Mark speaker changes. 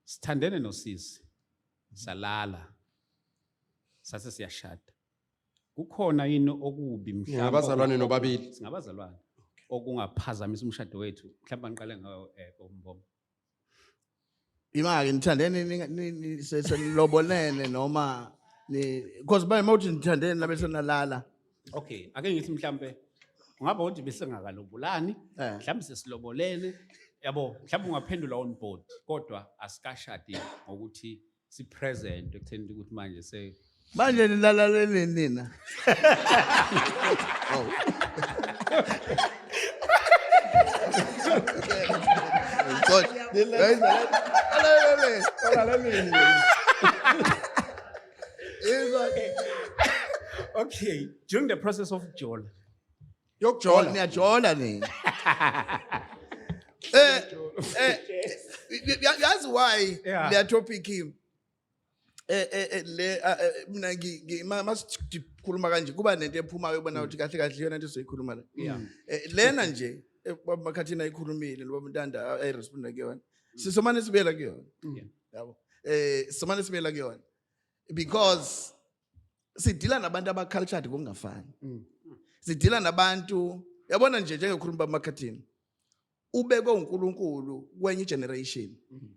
Speaker 1: sithandene nosisi salala sase siyashada kukhona yini okubi mhlawumbe ngabazalwane nobabili
Speaker 2: singabazalwane
Speaker 1: okungaphazamisa umshado wethu mhlawumbe angiqale ngawo eh kombombo
Speaker 3: imake nithandene senilobolene noma because by mawuthi nithandene nabe senalala Okay, ake
Speaker 1: ngithi mhlambe ungaba uthi besingakalobolani, Eh. mhlambe sesilobolene. Yabo, mhlambe ungaphendula on board kodwa asikashadi ngokuthi si present ekutheni ukuthi manje se manje
Speaker 3: nilalaleleni nina Oh. Sorry.
Speaker 1: Guys, lalaleleni. okay during the process of jola yokujola
Speaker 3: niyajola nini eh eh ya- yazi why Yeah. le topic eh eh eh, le ah, eh, mina ngi- ngi- ma- masikhuluma kanje kuba nento ephumayo ubona ukuthi kahle kahle iyona into esizoyikhuluma la Yeah. Eh, lena nje eh, baba makhathini ayikhulumile lo baba ntanda ayiresponda kuyona sisomane sibuyela kuyona Yeah. yabo eh somane sibela kuyona because sidila nabantu abacultured kungafani mm. sidila nabantu yabona nje njengekhuluma bamakhathini ubekwe uNkulunkulu kwenye generation mm.